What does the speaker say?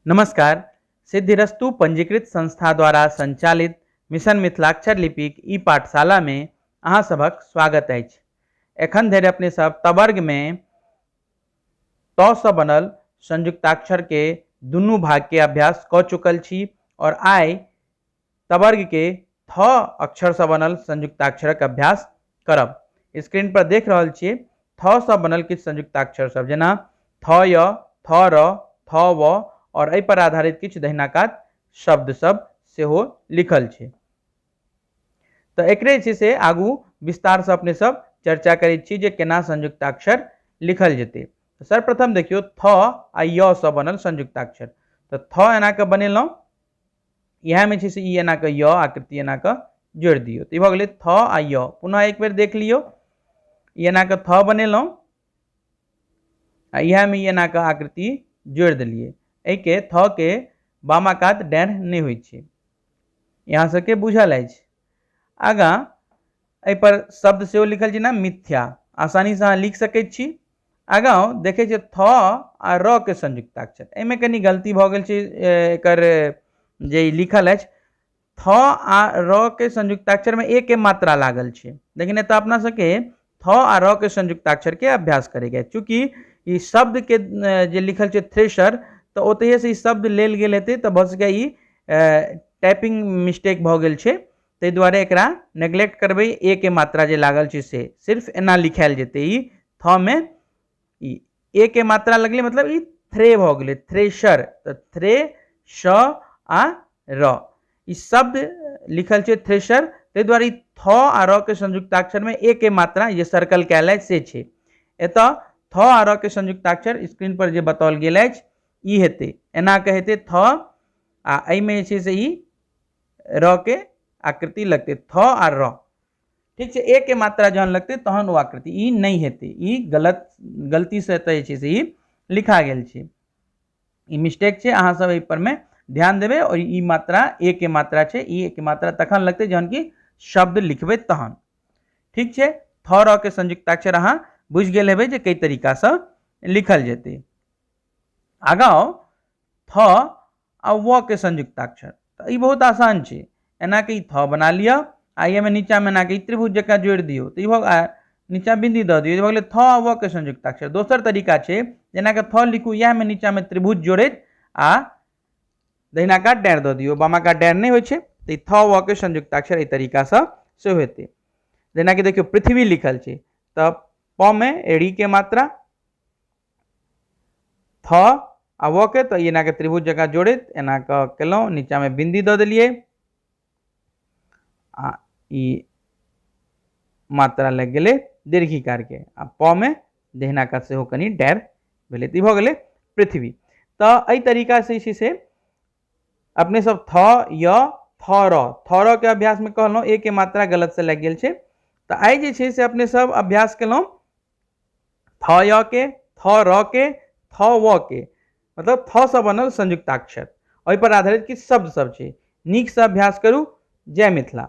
नमस्कार सिद्धिरस्तु पंजीकृत संस्था द्वारा संचालित मिशन मिथिलाक्षर लिपिक ई पाठशाला में अहाँ सभक स्वागत अछि एखन धरि अपने सब तवर्ग में तौ से बनल संयुक्ताक्षर के दुनू भाग के अभ्यास क चुकल छी और आइ तवर्ग के थ अक्षर से बनल संयुक्ताक्षरक अभ्यास करब स्क्रीन पर देख रहल छिए थ से बनल किछु संयुक्ताक्षर सब जेना थ य थ र थ व और एहि पर आधारित किछु दहिना कात शब्द सब सेहो लिखल छै तो एकरे छै से आगू विस्तार से अपने सब चर्चा करै छी जे केना संयुक्ताक्षर लिखल जेतै तो सर्वप्रथम देखियो थ आ य से बनल संयुक्ताक्षर तो थ एना के बनेलहुँ इएहमे छै से ई एना कऽ य आकृति एना कऽ जोड़ि दियौ तऽ ई भऽ गेलै थ आ य पुनः एक बेर देख लियौ ई एना कऽ थ बनेलहुँ आ इएहमे ई एना कऽ आकृति जोड़ि देलियै एहिके थ के बामा कात डाँढ़ नहि होइ छै यहाँ सबके बुझल अछि आगाँ एहिपर शब्द सेहो लिखल छै ने मिथ्या आसानीसँ अहाँ लिख सकै छी आगाँ देखै छियै थ आ र के संयुक्ताक्षर एहिमे कनि गलती भऽ गेल छै एकर जे लिखल अछि थ आ र के संयुक्ताक्षरमे एके मात्रा लागल छै लेकिन एतऽ अपना सबके थ आ र के संयुक्ताक्षरके अभ्यास करैके अछि चूँकि ई शब्दके जे लिखल छै थ्रेशर तऽ ओतहिएसँ ई शब्द लेल गेल हेतै तऽ भऽ सकैए ई टाइपिंग मिस्टेक भऽ गेल छै ताहि दुआरे एकरा नेग्लेक्ट करबै ए के मात्रा जे लागल छै से सिर्फ एना लिखायल जेतै ई थ मे ई ए के मात्रा लगलै मतलब ई थ्रे भऽ गेलै थ्रेशर तऽ थ्रे श आ र ई शब्द लिखल छै थ्रेशर ताहि दुआरे ई थ आ र के संयुक्ताक्षरमे ए के मात्रा जे सर्कल कयल अछि से छै एतऽ थ आ र के संयुक्ताक्षर स्क्रीन पर जे बताओल गेल अछि ई हेतै एना कऽ हेतै थ आ एहिमे जे छै से ई र के आकृति लगते थ आ र ठीक है एक के मात्रा जहन लगते तहन वो आकृति ई नहीं हेते ई गलत गलती से तय छै से ई लिखा गेल छै ई मिस्टेक छै अहाँ सब एहि पर में ध्यान देवे और ई मात्रा ए के मात्रा छै ई एक मात्रा तखन लगते जहन की शब्द लिखबे तहन ठीक है थ र के संयुक्ताक्षर अहाँ बुझ गए हेबै जे कई तरीका से लिखल जेतै आगाँ थ आ व के संयुक्ताक्षर तऽ ई बहुत आसान छै एना के ई थ बना लिअ आ एहिमे नीचाँमे एना के ई त्रिभुज जकाँ जोड़ि दियौ तऽ ई भऽ आ नीचाँ बिंदी दऽ दियौ ई भऽ गेलै थ आ व के संयुक्ताक्षर दोसर तरीका छै जेना के थ लिखू इएहमे नीचाँमे त्रिभुज जोड़ैत आ दहिना काट डाँड़ि दऽ दियौ बामा काट डाँड़ि नहि होइ छै तऽ ई थ व के संयुक्ताक्षर एहि तरीकासँ सेहो हेतै जेनाकि देखियौ पृथ्वी लिखल छै तऽ प मे री के मात्रा थ आ व के तो एना के त्रिभुज जगह जोड़ित एना के केलहुँ नीचा में बिंदी द दिलिए आ ई मात्रा लग गए दीर्घिकार के आ प में दहिना का से कनी डैर भेले तो भले पृथ्वी तो यही तरीका से इसी से अपने सब थ य थ र थ र के अभ्यास में कहल ए के मात्रा गलत से लग गए तो आई जे से अपने सब अभ्यास कलौं थ य के थ र के थ व के मतलब थ से बनल संयुक्ताक्षर ओहि पर आधारित किछु शब्द सब छै नीक से अभ्यास करू जय मिथिला